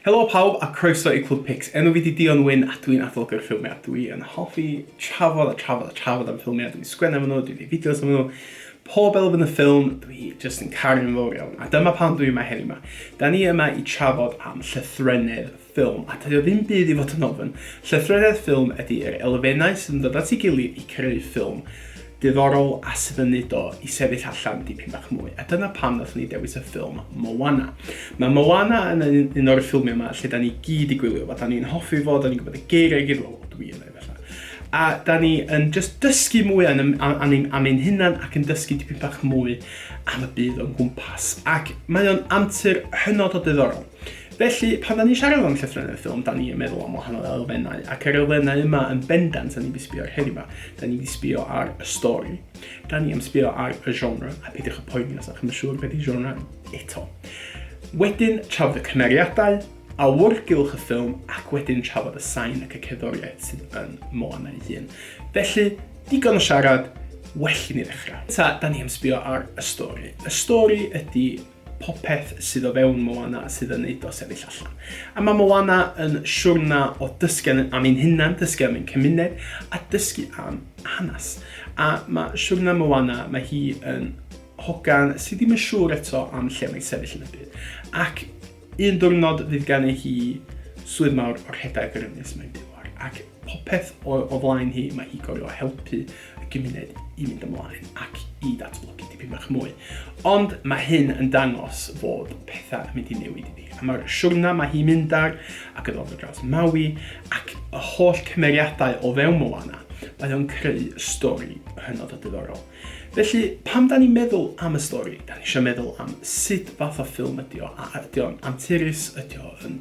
Helo pawb a croeso i Clwb Pics. Enw fi di Dion Wyn a dwi'n adolygu'r ffilmiau. Dwi yn hoffi trafod a trafod a trafod am ffilmiau. Dwi'n sgwennu am nhw, dwi'n gwneud fideos am nhw. Pob elfen y ffilm, dwi jyst yn caru'n fawr iawn. A dyma pam dwi yma heddiw yma. Da ni yma i trafod am llythrennydd ffilm, a dydy o ddim byd i fod yn ofn, llythreriaeth ffilm ydi'r elfennau sydd yn dod at ei gilydd i creu ffilm diddorol a sydd yn neud o i sefyll allan dipyn bach mwy, a dyna pam nathon ni dewis y ffilm Moana. Mae Moana yn un o'r ffilmiau yma lle da ni gyd i gwylio fo, da ni'n hoffi fo, da ni'n gwybod y geiriau i gyd, wel, dwi yn ei fella, a da ni yn just dysgu mwy am, am, am, am ein hunan ac yn dysgu dipyn bach mwy am y byd o'n gwmpas, ac mae o'n antur hynod o diddorol. Felly, pan da ni'n siarad am llythrennau'r ffilm, da ni'n meddwl am wahanol elfennau, ac yr elfennau yma yn bendant da ni'n mynd i sbio ar heddiw yma. Da ni'n mynd i sbio ar y stori, da ni'n mynd i sbio ar y genre, a peidiwch y poeni os da chi'n siŵr beth i genre eto. Wedyn, trafod y cymeriadau, awyrgylch y ffilm, ac wedyn trafod y sain ac y cerddoriaeth sydd yn Moana ei hun. Felly, digon o siarad, well i ni ddechrau. Ta, da ni'n mynd i sbio ar y stori. Y stori ydy popeth sydd o fewn Moana sydd yn neud o sefyll allan. A mae Moana yn siwrna o dysgu am ein hunan, dysgu am ein cymuned, a dysgu am hanes. A mae siwrna Moana, mae hi yn hogan sydd ddim yn siŵr eto am lle mae'n sefyll yn y byd. Ac un diwrnod fydd gan ei hi swydd mawr o rhedeg yr ynys mae'n byw ar. Ac popeth o, o flaen hi, mae hi gorfod helpu y gymuned i fynd ymlaen ac i datblygu tipyn bach mwy. Ond mae hyn yn dangos fod pethau yn mynd i newid iddi. A mae'r siwrna mae hi'n mynd ar ac yn ddod o draws Maui ac y holl cymeriadau o fewn Moana, mae o'n creu stori hynod o diddorol. Felly, pam da ni'n meddwl am y stori? Da ni eisiau meddwl am sut fath o ffilm ydi o, a ydi o'n anturus, ydi o'n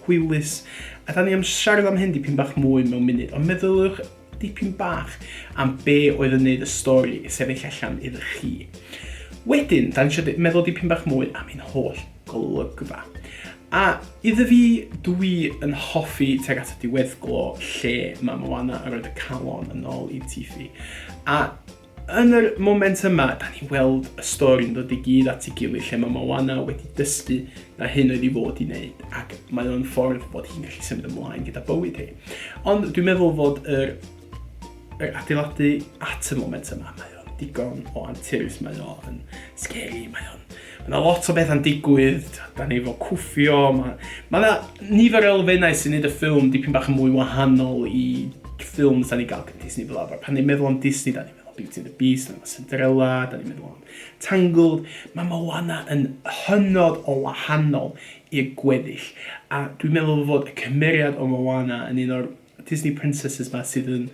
Hwylus. A da ni am siarad am hyn dipyn bach mwy mewn munud, ond meddyliwch dipyn bach am be oedd yn neud y stori sefyll allan iddo chi. Wedyn, da ni eisiau meddwl dipyn bach mwy am ein holl golygfa. A iddo fi, dwi yn hoffi teg at y diweddglo lle mae Moana yn rhoi y calon yn ôl i Tifi. A Yn yr moment yma, da ni'n weld y stori'n dod i gyd at ei gilydd lle mae Moana wedi dysgu na hyn oedd i fod i wneud ac mae o'n ffordd bod hi'n gallu symud ymlaen gyda bywyd hi. Ond dwi'n meddwl fod yr, yr adeiladu at y moment yma, mae o'n digon o anturus, mae o'n scary, mae o'n Mae yna lot o bethau'n digwydd, da ni efo cwffio, mae ma yna nifer o elfennau sy'n neud y ffilm dipyn bach yn mwy wahanol i ffilm da ni gael gen Disney fel arfer. Pan ni'n meddwl am Disney, da ni'n meddwl am Beauty and the Beast, mae Cinderella, da ni'n meddwl am Tangled. Mae Moana yn hynod o wahanol i'r gweddill, a dwi'n meddwl fod y cymeriad o Moana yn un o'r Disney Princesses ma sydd yn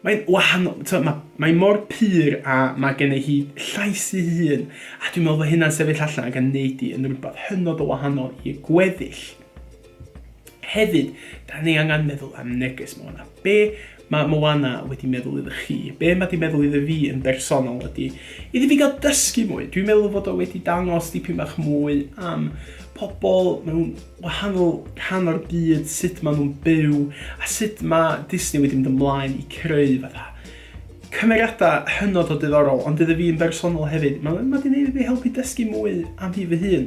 Mae'n wahanol, tibod, mae, mae mor pur a mae gen i hi llais i hun, a dwi'n meddwl bod hynna'n sefyll allan ac yn neud i yn rhywbeth hynod o wahanol i gweddill. Hefyd, da ni angen meddwl am neges Moana. Be mae Moana wedi meddwl iddo chi? Be mae wedi meddwl iddo fi yn bersonol ydy, iddo fi gael dysgu mwy. Dwi'n meddwl fod o wedi dangos dipyn bach mwy am pobl mewn wahanol rhan o'r byd, sut maen nhw'n byw, a sut mae Disney wedi mynd ymlaen i creu fatha cymeriadau hynod o diddorol, ond iddo fi yn bersonol hefyd, mae ma wedi gwneud fi helpu dysgu mwy am fi fy hun.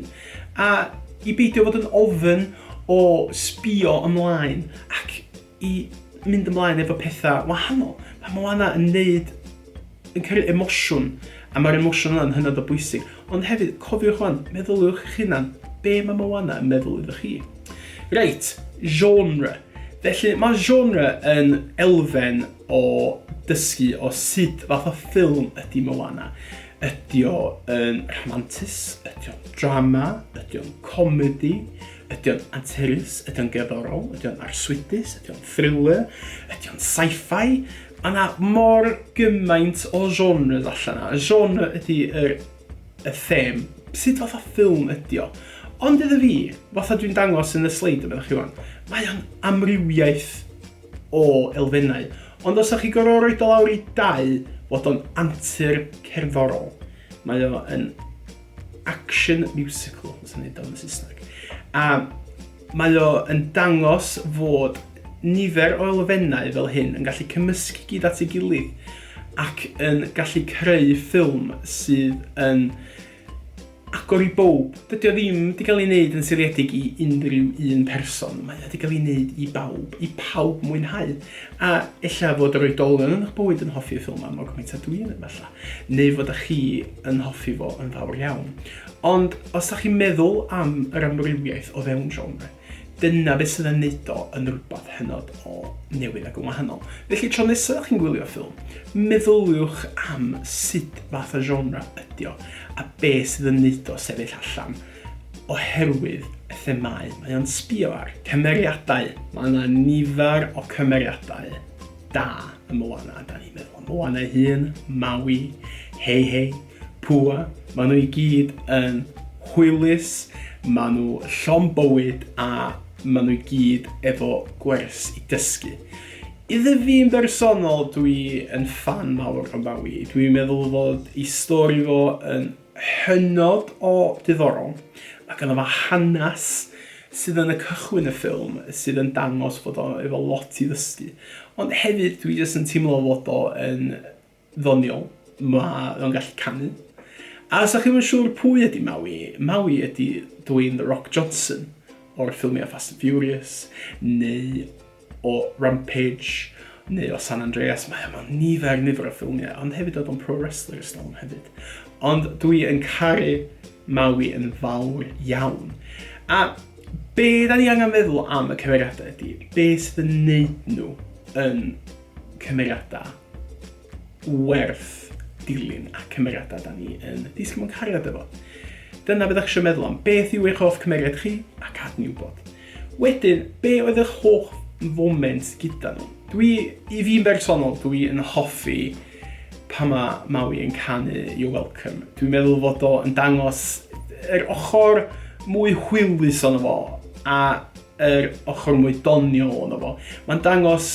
A i beidio bod yn ofyn o sbio ymlaen ac i mynd ymlaen efo petha wahanol. Mae Moana yn neud, yn cyrru emosiwn, a mae'r emosiwn yna'n hynod o bwysig. Ond hefyd, cofiwch wan, meddyliwch eich hunan, be mae Moana yn meddwl iddo chi? Reit, genre. Felly, mae genre yn elfen o dysgu o sut fath o ffilm ydy Moana. Ydy o yn rhamantus? Ydy o'n drama? Ydy o'n comedi? Ydy o'n anturus? Ydy o'n gerddorol? Ydy o'n arswydus? Ydy o'n thriller? Ydy o'n sci-fi? Mae yna mor gymaint o genres allan yna. Y genre ydy yr, y them. Sut fath o ffilm ydy o? Ond iddo fi, fatha dwi'n dangos yn y sleid yma chi wan, mae o'n amrywiaeth o elfennau. Ond os ydych chi gorfod rhoi do lawr i dau, fod o'n antur cerddorol. Mae o'n action musical, os yn edrych yn y Saesneg. A mae o yn dangos fod nifer o elfennau fel hyn yn gallu cymysgu gyd at ei gilydd ac yn gallu creu ffilm sydd yn agor i bob. Dydy o ddim wedi cael ei wneud yn seiliedig i unrhyw un person. Mae wedi cael ei wneud i bawb, i pawb mwynhau. A ella fod yr oedolion yn eich bywyd yn hoffi y ffilm am o gymaint a dwi'n efallai. neu fod â chi yn hoffi fo yn fawr iawn. Ond os da chi'n meddwl am yr amrywiaeth o fewn genre, dyna beth sydd yn neud o yn rhywbeth hynod o newydd ac yn wahanol. Felly tro nesaf chi'n gwylio ffilm, meddyliwch am sut fath o genre ydy o a be sydd yn neud o sefyll allan oherwydd y themau mae o'n sbio ar. Cymeriadau, mae yna nifer o cymeriadau. da ym Moana, da ni'n meddwl am Moana ei hun, Maui, Hei Hei, Pua, maen nhw i gyd yn hwylus, maen nhw llon bywyd a maen nhw i gyd efo gwers i dysgu. Iddo fi'n bersonol, dwi yn fan mawr o Maui. Dwi'n meddwl fod i stori fo yn hynod o ddiddorol ac yna fo hanes sydd yn y cychwyn y ffilm sydd yn dangos fod o efo lot i ddysgu ond hefyd dwi jyst yn teimlo fod o yn ddoniol ma' o'n gallu canu a os o'ch chi'm yn siŵr pwy ydi Maui Maui ydi Dwayne The Rock Johnson o'r ffilmia Fast and Furious neu o Rampage neu o San Andreas, mae yma nifer nifer o ffilmiau, ond hefyd oedd o'n Pro Wrestler Storm hefyd. Ond dwi yn caru Maui yn fawr iawn. A be da ni angen feddwl am y cymeriadau ydy, be sydd yn neud nhw yn cymeriadau werth dilyn a cymeriadau da ni yn disgyn mewn cariad efo. Dyna beth eisiau meddwl am beth yw eich hoff cymeriad chi a cadw'n wybod. Wedyn, be oedd eich hoff foment gyda nhw? Dwi, i fi'n bersonol, dwi yn hoffi pa mae Maui yn canu You're Welcome. Dwi'n meddwl fod o yn dangos yr ochr mwy hwylus o'n fo, a yr ochr mwy doniol o'n fo. Mae'n dangos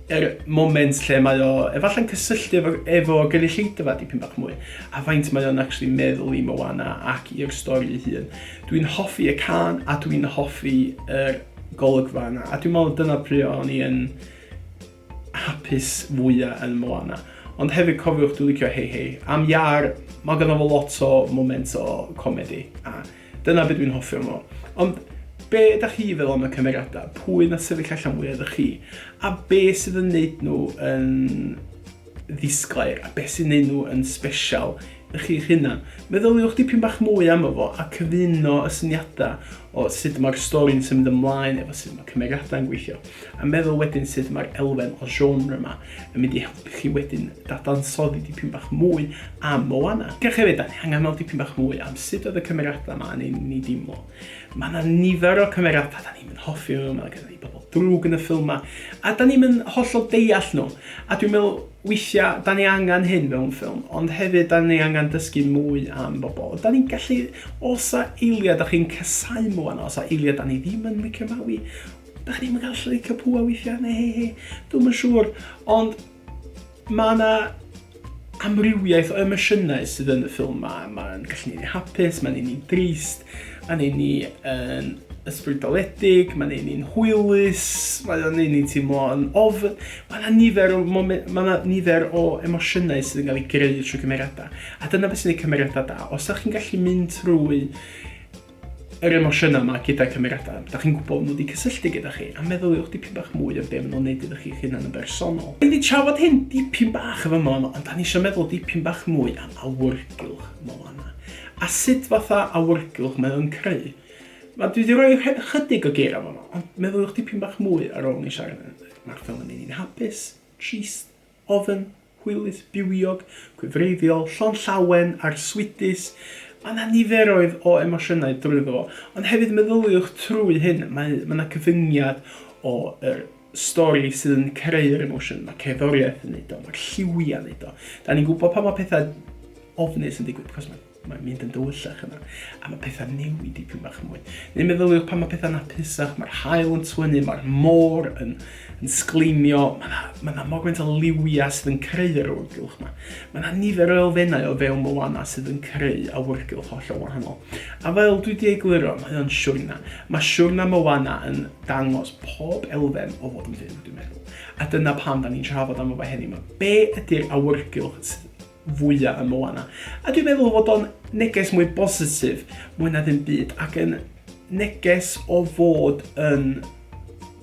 er moment lle mae o efallai'n cysylltu efo, efo gynulleidfa dipyn bach mwy, a faint mae o'n actually meddwl i Moana ac i'r stori ei hun. Dwi'n hoffi y can a dwi'n hoffi yr golygfa yna, a dwi'n meddwl dyna pryd o'n i yn hapus fwyaf yn Moana. Ond hefyd cofiwch dwi'n licio Hei Hei. Am Iar, mae ganddo fo lot o moment o comedi, a Dyna be dwi'n hoffi am o. Ond be da chi feddwl am y cymeriadau? Pwy na sefyll allan fwy ydych chi? A be sydd yn neud nhw yn ddisglair? A be sy'n neud nhw yn special i chi'ch hunan? Meddyliwch dipyn bach mwy am efo a cyfuno y syniadau o sut mae'r stori'n symud ymlaen efo sut mae cymeriadau'n gweithio. A meddwl wedyn sut mae'r elfen o genre yma yn mynd i helpu chi wedyn dadansoddi dipyn bach mwy am Moana. Diolch hefyd, da ni angen meddwl dipyn bach mwy am sut oedd y cymeriadau yma yn ei ni dimlo. Mae yna nifer o cymeriadau da ni'n mynd hoffi nhw, mae gen i bobl drwg yn y ffilm yma, a da ni'n mynd hollol deall nhw. A dwi'n meddwl weithiau da ni angen hyn mewn ffilm, ond hefyd da ni angen dysgu mwy am bobl. Da ni'n gallu, os a eiliad da chi'n cysau Moana, os a eiliad da ni ddim yn licio Maui, Da chi ddim yn cael llwyth o pwa weithiau, neu hei hei, dwi'n yn siŵr, ond mae yna amrywiaeth o emosiynau sydd yn y ffilm ma. Mae'n gallu neud ni hapus, mae'n neud ni'n drist, mae'n neud ni yn ysbrydoledig, mae'n neud ni'n hwylus, mae'n neud ni'n teimlo yn ofn. Mae yna nifer o, mae yna nifer o emosiynau sydd yn cael ei greu trwy cymeriadau. A dyna beth sy'n ei cymeriadau da. Os ydych chi'n gallu mynd trwy yr emosiynau 'ma gyda cymeriadau, da chi'n gwybod nhw wedi cysylltu gyda chi, a meddyliwch dipyn bach mwy am be maen nhw'n neud iddo chi'ch hunan yn bersonol. Da ni wedi trafod hyn dipyn bach yn fama, ond da ni eisiau meddwl dipyn bach mwy am awyrgylch Moana, a sut fatha awyrgylch mae o'n creu. Mae dwi wedi rhoi rhe- chydig o geirau fama, ond meddyliwch dipyn bach mwy ar ôl ni siarad yn Mae'r ffilm yn neud ni'n hapus, trist, Oedd yn hwylus, bywiog, gwefreiddiol, llond llawen, arswydus. Mae 'na niferoedd o emosiynau drwyddo fo. Ond hefyd meddyliwch trwy hyn, mae, mae 'na gyfyngiad o yr stori sydd yn creu'r emosiwn, mae cerddoriaeth yn neud o, mae'r lliwiau'n neud o. Da ni'n gwybod pan mae pethau ofnus yn digwydd, cos mae Mae'n mynd yn dywyllach yna, a mae pethau'n newid dipyn bach mwy. Neu meddyliwch pan mae pethau'n hapusach, mae'r hael yn twynu, mae'r môr yn, yn sgleimio, mae yna ma, na mor gwynt o liwiau sydd yn creu yr awyrgylch yma. Mae yna nifer o elfennau o fewn Moana sydd yn creu awyrgylch hollol wahanol. A fel dwi wedi egluro, mae o'n siwrna. Mae siwrna Moana yn dangos pob elfen o fod yn fyw, dwi'n meddwl. A dyna pam da ni'n trafod am y fe heddiw yma. Be ydy'r awyrgylch sydd fwya ym Moana. A dwi'n meddwl fod o'n neges mwy bositif, mwy na ddim byd, ac yn neges o fod yn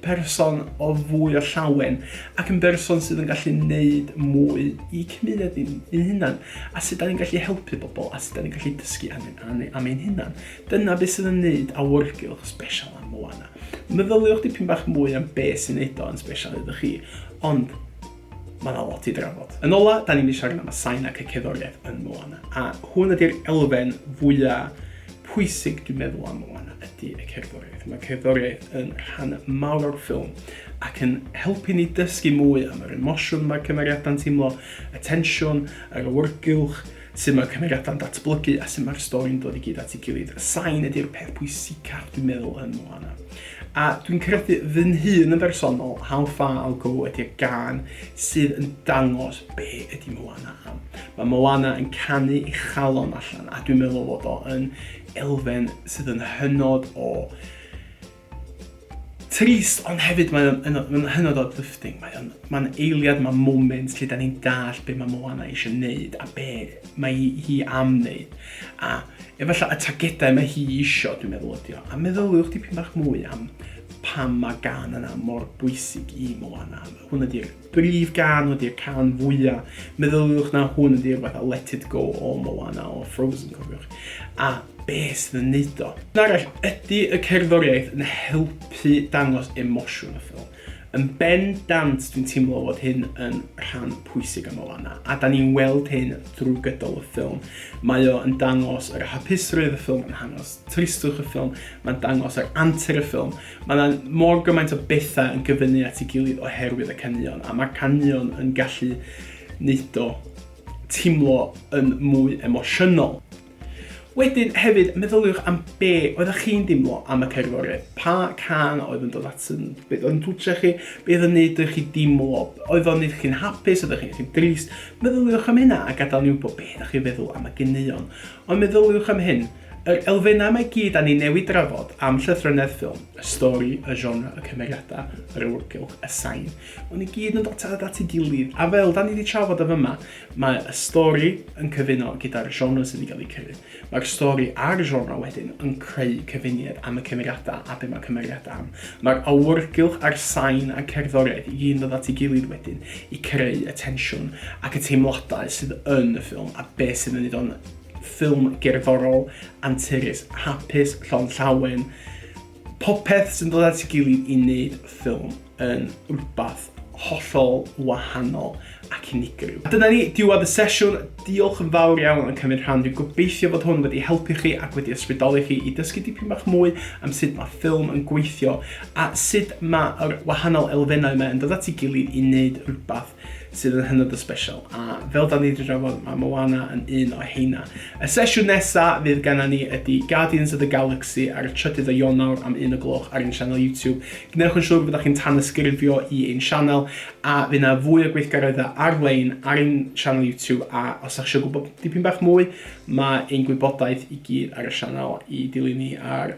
person o fwy o llawen ac yn berson sydd yn gallu neud mwy i cymuned ni'n ein hunan a sut da ni'n gallu helpu bobl a sut da ni'n gallu dysgu am, am, am ein hunan. Dyna beth sydd yn neud awyrgylch special am Moana. Meddyliwch dipyn bach mwy am beth sy'n neud o'n special iddo chi, ond Mae yna lot i drafod. Yn ola, da ni'n mynd i siarad am y sain ac y cerddoriaeth yn Moana, a hwn ydy'r elfen fwya pwysig dwi'n meddwl am Moana ydy y cerddoriaeth. Mae cerddoriaeth yn rhan mawr o'r ffilm ac yn helpu ni dysgu mwy am yr emosiwn mae cymeriadau'n teimlo, y tensiwn, yr awyrgylch, Sut mae'r cymeriadau'n datblygu a sut mae'r stori'n dod i gyd at ei gilydd. Y sain ydy'r peth pwysicaf dwi'n meddwl yn Moana. A dwi'n credu fy nhun yn bersonol, How Far I'll Go ydy'r gan sydd yn dangos be ydy Moana am. Mae Moana yn canu ei chalon allan a dwi'n meddwl fod o yn elfen sydd yn hynod o Trist, ond hefyd mae o'n yn yn hynod o uplifting. Mae o'n ma'n eiliad, mae moment lle da ni'n dall be mae Moana eisiau neud a be mae hi, hi am neud. A efallai y tagedau mae hi eisiau, dwi'n meddwl ydi o. A meddyliwch dipyn bach mwy am pam mae gan yna mor bwysig i Moana. Hwn ydy'r Brif gân ydy'r cân fwya'. Meddyliwch na hwn ydy rhywbeth fel Let It Go o Moana or Frozen, cofiwch, a be' sydd yn neud o. Yn arall, ydy y cerddoriaeth yn helpu dangos emosiwn y ffilm? Yn ben dant dwi'n teimlo fod hyn yn rhan pwysig o Moana, a 'dan ni'n weld hyn drwy gydol y ffilm. Mae o yn dangos yr hapusrwydd y ffilm yn dangos tristwch y ffilm, ma'n dangos yr antur y ffilm, Mae 'na mor gymaint o bethau yn gyfynnu at ei gilydd oherwydd y caneuon, a mae caneuon yn gallu neud o timlo yn mwy emosiynol. Wedyn hefyd, meddyliwch am be oeddach chi'n dimlo am y cerddoriaeth. Pa can oedd yn dod at yn, be oedd yn twtio chi, be oedd yn neud i chi dimlo, oedd o'n neud chi'n hapus, oedd chi'n chi'n drist. Meddyliwch am hynna a gadael ni wybod be ydych chi'n feddwl am y ganeuon. Ond meddyliwch am hyn, Yr elfennau yma i gyd a ni newydd drafod, am llythrennedd ffilm, y stori, y genre, y cymeriadau, yr awyrgylch, y sain, maen nhw i gyd yn dotâd at ei gilydd, a fel da ni wedi trafod yn fyma, mae y stori yn cyfuno gyda'r genre sydd wedi cael ei creu. Mae'r stori a'r genre wedyn yn creu cyfuniad am y cymeriadau a be mae cymeriad am. Mae'r awyrgylch a'r sain a'r cerddoriaeth i gyd yn dod at ei gilydd wedyn i creu y tensiwn ac y teimladau sydd yn y ffilm a beth sydd yn ei wneud o'n ffilm gerddorol, anturus, hapus, llond llawen, popeth sy'n dod at ei gilydd i wneud ffilm yn rhywbeth hollol wahanol ac unigryw. A dyna ni, diwedd y sesiwn. Diolch yn fawr iawn am cymryd rhan. Dwi'n gobeithio bod hwn wedi helpu chi ac wedi ysbrydoli chi i dysgu dipyn bach mwy am sut mae ffilm yn gweithio a sut mae'r wahanol elfennau yma yn dod at ei gilydd i wneud rhywbeth sydd yn hynod o special. A fel da ni wedi drafod, mae Moana yn un o heina. Y sesiwn nesa fydd genna ni ydy Guardians of the Galaxy ar y trydydd o Ionawr am un o gloch ar ein sianel YouTube. Gwnewch yn siŵr fyddwch chi'n tanysgrifio i ein sianel a fydd yna fwy o gweithgareddau ar-lein ar ein sianel YouTube a os ydych eisiau gwybod dipyn bach mwy, mae ein gwybodaeth i gyd ar y sianel i dilyn ni ar